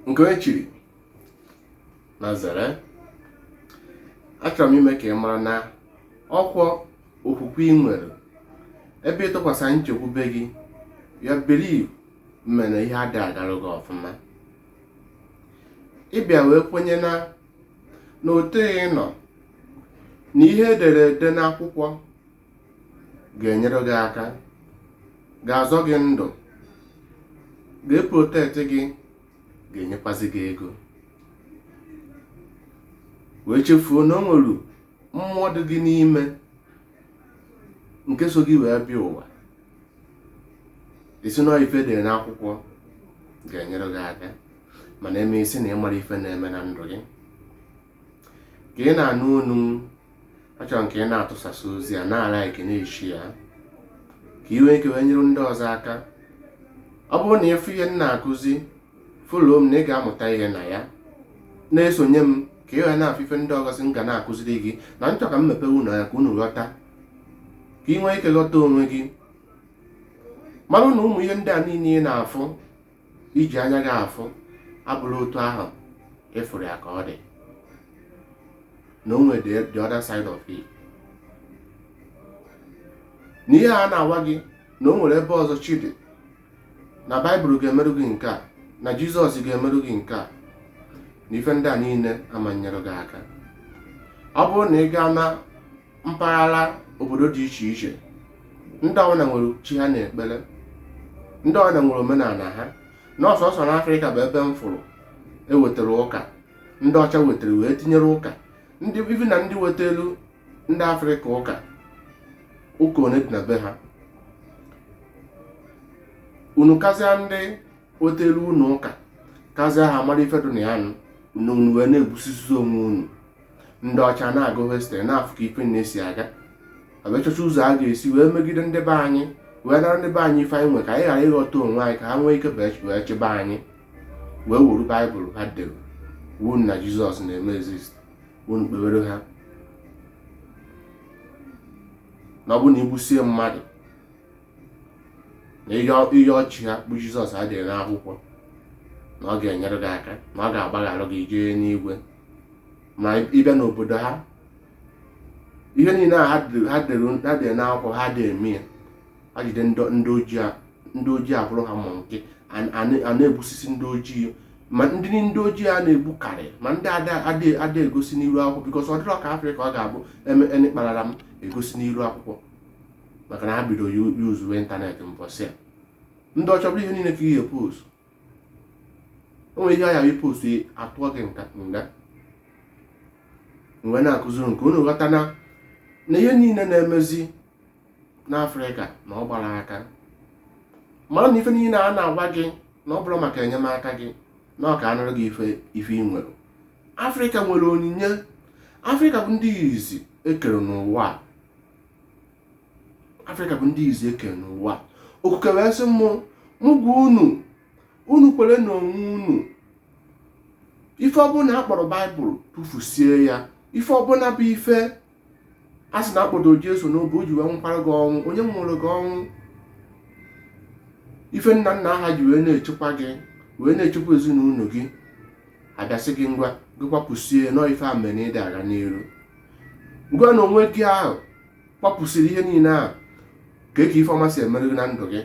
nke onye chiri na zere achọrọ m ime ka ị mara na ọkwọ okwukwe ị nwere ebe ị tụkwasị nchekwube gị ya believe mere ihe adịghị agara gị ọfụma ị bịa wee kwenye na na otu ị nọ na ihe e dere ede n'akwụkwọ ga-enyere gị aka ga-azọ gị ndụ ga-eprotect gị ga-enyekwazị gị ego wee chefuo na o nwere mmụọ dị gị n'ime nke so gị wee bịa ụwa ị sị na ife e dere n'akwụkwọ ga-enyere gị aka mana eme ị sị na ị mara ife na-eme na ndụ gị ka ị na-anụ onu m achọrọ m ka ị na-atụsasị ozi a na-alike na-eshare ya ka i nwee ike wee nyere ndị ọzọ aka ọ bụrụ na ị fụ ihe m na-akụzi follow m na ị ga-amụta ihe na ya na-esonye m ka ị wee na-afụ ife ndị ọzọ sị m ga na-akụziri gị na m chọ ka m mepe unu anya ka unu ghọta ka ị nwee ike ghọta onwe gị marụ na ụmụ ihe ndị a niile ị na-afụ iji anya gị afụ abụrọ otu ahụ ị fụrụ ya ka ọ dị na o nwere the other side of it na ihe a na-agwa gị na o nwere ebe ọzọ chi dị na baịbụl ga-emerụ gị nke a na jizọs ga-emerụ gị nke a na ife ndị a niile ama nyere gị aka ọ bụrụ na ị gaa na mpaghara obodo dị iche iche ndị ọbụla nwere chi ha na-ekpere ndị ọbụla nwere omenala ha na ọ sọsọ n'afrịka bụ ebe m fụrụ e wetara ụka ndị ọcha wetara wee tinyere ụka even na ndị wetara ndị afrịka ụka ụka one dị na be ha unu kazịa ndị wetara unu ụka kazịa ha mara ife dị na ya nụ unu wee na-egbusizi onwe unu ndị ọcha na-agụ history na-afụ ka ife na-esi aga abịa chọcha ụzọ a ga-esi wee megide ndị be anyị wee nara ndị be anyị ife anyị nwe ka anyị ghara ịghọta onwe anyị ka ha nwee ike wee chịba anyị wee wuru baịbụl ha dere unu na jizọs na-eme exist unu kpewere ha na ọ bụ na i gbusie mmadụ na ihe ahụ chi ha bụ jizọs ha dere n'akwụkwọ na ọ ga-enyere gị aka na ọ ga-agbaghara gị jee n'igwe ma ị bịa n'obodo ha ihe niile a ha dere n'akwụkwọ ha adị eme ya ha jide ndị ojii akpụrụ ha ma nke a na-egbusisi ndị ojii ma ndị ndị ojii a na-egbukarị ma ndị ada egosi n'iru akwụkwọ because ọ dịrọ ka afrịka ọ ga-abụ e mee kpararam egosi n'iru akwụkwọ maka na ha bido yuzuwe ịntanetị mbọsị a ndị ọcha bụrụ ihe niile ka ihe post o nwere ihe ayaghị post atụọ gị nka nga mgbe na-akụziri nke unu ghọta na na ihe niile na-emezi n'afrịka na ọ gbara aka mara na ife niile a na-agwa gị na ọ bụrọ maka enyemaka gị na ọ ka a nara gị ife ife ị nwere afrịka nwere onyinye afrịka bụ ndị izi e kere n'ụwa a afrịka bụ ndị izi e kere n'ụwa okuke wee sị mụ mụ gwa unu unu kwere na onwe unu ife ọbụla a kpọrọ baịbụl tụfusie ya ife ọbụla bụ ife a sị na a kpọdo jesu n'obe o ji wee nwụkwara gị ọnwụ onye nwụrụ gị ọnwụ ife nna nna ha ji wee na-echekwa gị wee na-echekwa ezinụlọ gị a bịa sị gị ngwa gị kwapụsie na ọ ife a mere ịdị aga n'iru ngwa na onwe gị ahụ kwapụsịrị ihe niile ahụ ka eke ife ọma si emere gị na ndụ gị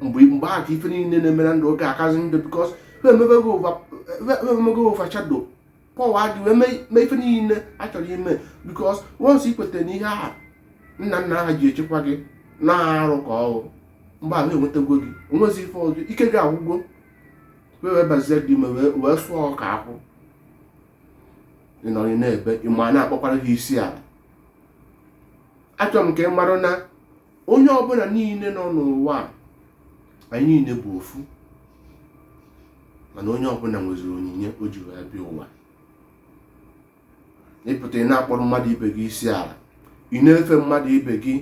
mgbe mgbe ahụ ka ife niile na-eme na ndụ gị akazi njọ because e mego overshadow power gị wee mee ife niile a chọrọ ime because once i kweta na ihe ahụ nna nna ha ji echekwa gị na arụ ka ọ bụ mgbe ahụ e nwetagwo gị o nwezi ife ọzọ ike gị agwụgwo wee wee bazie gị ime wee sụọ ọka akwụ ị nọrọ na-ebe ịma a na-akpọkwara gị isi ala achọrọ m ka ị mara na onye ọbụla niile nọ n'ụwa a, anyị niile bụ ofu mana onye ọbụla nweziri onyinye o ji wee bịa ụwa ị pụta ị na-akpọrọ mmadụ ibe gị isi ala ị na-efe mmadụ ibe gị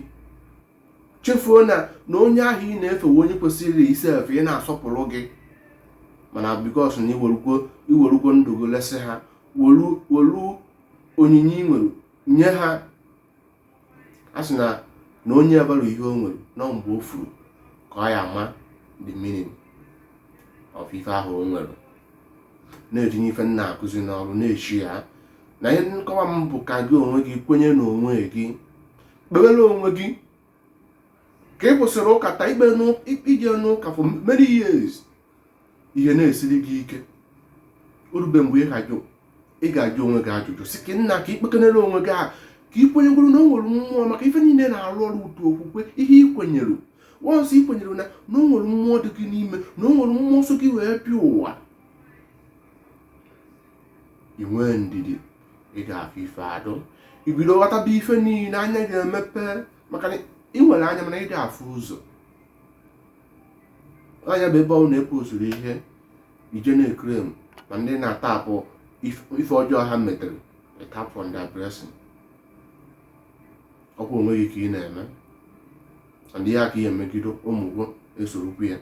chefuo na na onye ahụ ị na-efe onye kwesịrị isi efe gị na-asọpụrụ gị mana because na i werugwo ndụ gị lesị ha welu onyinye ị nwere nye ha a sị na na onye amarọ ihe o nwere na ọ mgbe o furu ka ọ ya ama the meaning of ife ahụ o nwere na-etinye ife m na-akụzi n'ọrụ na-echi ya na ihe nkọwa m bụ ka gị onwe gị kwenye n'onwe gị kpewere onwe gị ka ị kwụsịrị ụka taa ikpe ije n'ụka for many years ihe na-esiri gị ike o rube mgbe ị ga-ajụ onwe gị ajụjụ sị ka nna ka i kpekenere onwe gị ahụ ka ị kwenyegoro na o nwere mmụọ maka ife niile na-arụ ọrụ ụtụ okwukwe ihe ị kwenyere once ị kwenyere na na o nwere mmụọ dị gị n'ime na o nwere mmụọ so gị wee bịa ụwa i nwee ndidi ị ga-afụ ife dụ ibido ghọtaba ife niile anya ga-emepe maka na ị nwere anya mana ị da-afụ ụzọ anya bụ ebe ọ na-epu usoro ihe ije na-ekrem ma ndị na-atapụ ife ọjọọ ha metere tap on their blessing ọkwa onwe gị ka ị na-eme and ya ka ihe emegido ụmụ gị esorokwu ya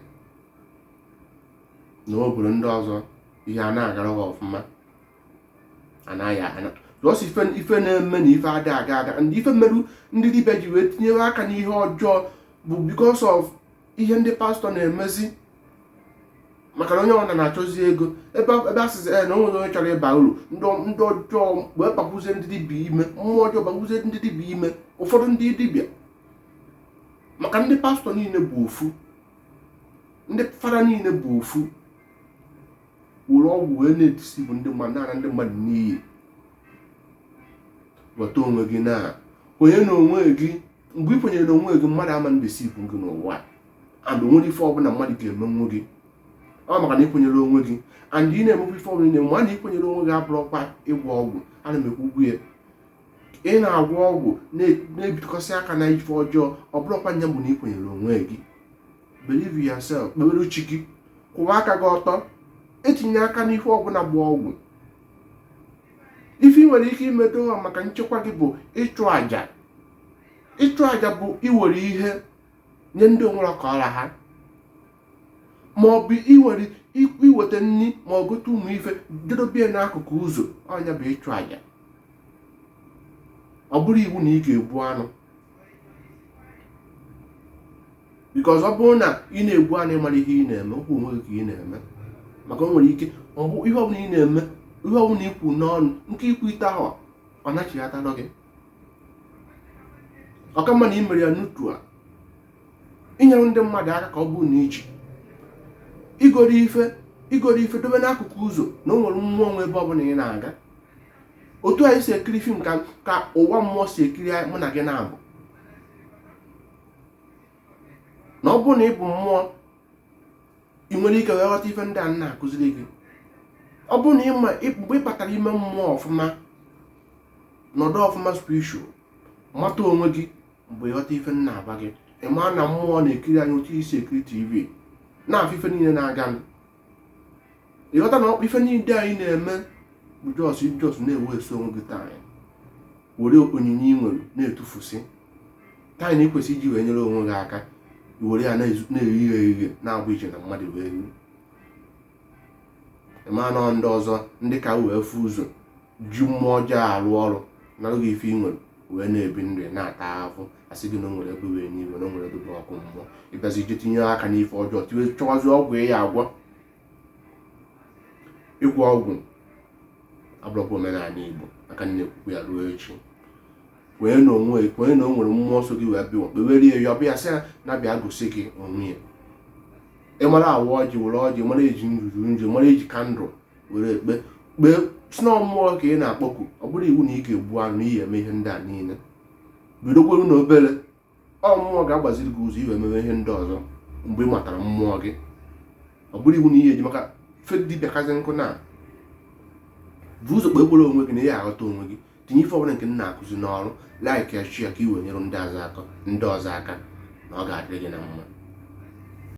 na obodo ndị ọzọ ihe a na-agara ha ọfụma anaghị ana jụọsị ife na-eme na ife ada aga aga and ife merụ ndị dibịa ji wee tinyewe aka n'ihe ọjọọ bụ because of ihe ndị pastọ na-emezi maka na onye ọbụla na-achọzi ego ebe a sịzi na onwere onye chọrọ ịba uru ndị ọjọọ wee kpagbuzie ndị dibịa ime mmụọ ọjọọ kpagbuzie ndị dibịa ime ụfọdụ ndị dibịa maka ndị pastọ niile bụ ofu ndị fada niile bụ ofu were ọgwụ wee na-edeceive ndị mmadụ na ndị mmadụ n'iyi ghọta onwe gị na kwenye na onwe gị mgbe ị kwenyere na onwe gị mmadụ ama na-edeceive gị n'ụwa and onwerọ ife ọbụla mmadụ ga-emenwu gị ọ maka na ịkwenyere onwe gị and ị na-emekwa ife ọbụla na-eme mana ịkwenyere onwe gị abụrọkwa ịgwọ ọgwụ ana m ekwu okwu ya ị na-agwọ ọgwụ na-ebitụkọsị aka na ife ọjọọ ọ bụrọkwa nya bụ na ịkwenyere onwe gị believe yourself kpewere chi gị kwụwa aka gị ọtọ etinye aka n'ife ọbụla bụ ọgwụ ife ị nwere ike imedo ha maka nchekwa gị bụ ịchụ àjà ịchụ àjà bụ iwere ihe nye ndị onwere ka ọ ra ha ma ọ bụ iweta nri ma ọ gote ụmụ ife jee dobie n'akụkụ ụzọ ọ nya bụ ịchụ àjà ọ bụrọ iwu na ị ga-egbu anụ because ọ bụrụ na ị na-egbu anụ ịmara ihe ị na-eme ọkwa onwe gị ka ị na-eme maka o nwere ike ọ bụ ihe ọbụla ị na-eme ihe ọbụla ikwu n'ọnụ nke ikwu ite ahụ ọ nachighata gị ọka mma na ị mere ya n'otu a inyere ndị mmadụ aka ka ọ bụrụ na iji igoro ife dobe n'akụkụ ụzọ na o nwere mmụọ nwe ebe ọbụla ị na-aga otu anyị si ekiri fim ka ka ụwa mmụọ si ekiri anyị mụ na gị na-abụ na ọ bụrụ na ị bụ mmụọ ị nwere ike wee ghọta ife ndị a na-akụziri gị ọ bụrụ na ịma mgbe ị batara ime mmụọ ọfụma nọdụ ọfụma spiritual mata onwe gị mgbe ịghọta ife m na-agwa gị ịma na mmụọ na-ekiri anyị otu isi ekiri tv na-afụ ife niile na-aga ịghọta na ife niile anyị na-eme bụ just just na-ewaste onwe gị time were onyinye ị nwere na-etufusi time na ịkwesị iji wee nyere onwe gị aka were ya na-eyighe eyighe na-abụ iche na mmadụ wee rie ịma na ndị ọzọ ndị ka wee fụ ụzọ ji mmụọ ọjọọ arụ ọrụ narụ gị ife ị nwere wee na-ebi ndụ ya na-ata ahụhụ asị gị na o nwere ebe wụ enigwe na o nwere ebe bụ ọkụ mmụọ ị bịazi je tinye aka n'ife ọjọọ tiwe chọwazi ọgwụ ị ya-agwọ ịgwọ ọgwụ abụrọkwa omenala igbo aka m na-ekwukwa ya ruo echi kwee na o nwe kwee na o nwere mmụọ so gị wee bịa kpewere ya yọba ya sị ya nya bịa gosi gị onwe ya ị mara awa ọjị were ọjị mara eji nzu ji nzu mara eji kandụl were ekpe kpee si na mmụọ ka ị na-akpọku ọ bụrọ iwu na ị ga-egbu anụ na ị ya-eme ihe ndị a niile bidokweru na obere ọ mmụọ ga-agbaziri gị ụzọ ị wee mewe ihe ndị ọzọ mgbe ị matara mmụọ gị ọ bụrọ iwu na ị ya-eje maka fake dibịa kazi nkụ na bu ụzọ kpekwere onwe gị na ị ya-aghọta onwe gị tinye ife ọbụla nke m na-akụzi n'ọrụ like ya share ya ka ị wee nyere ndị ọzọ aka na ọ ga-adịrị gị na mma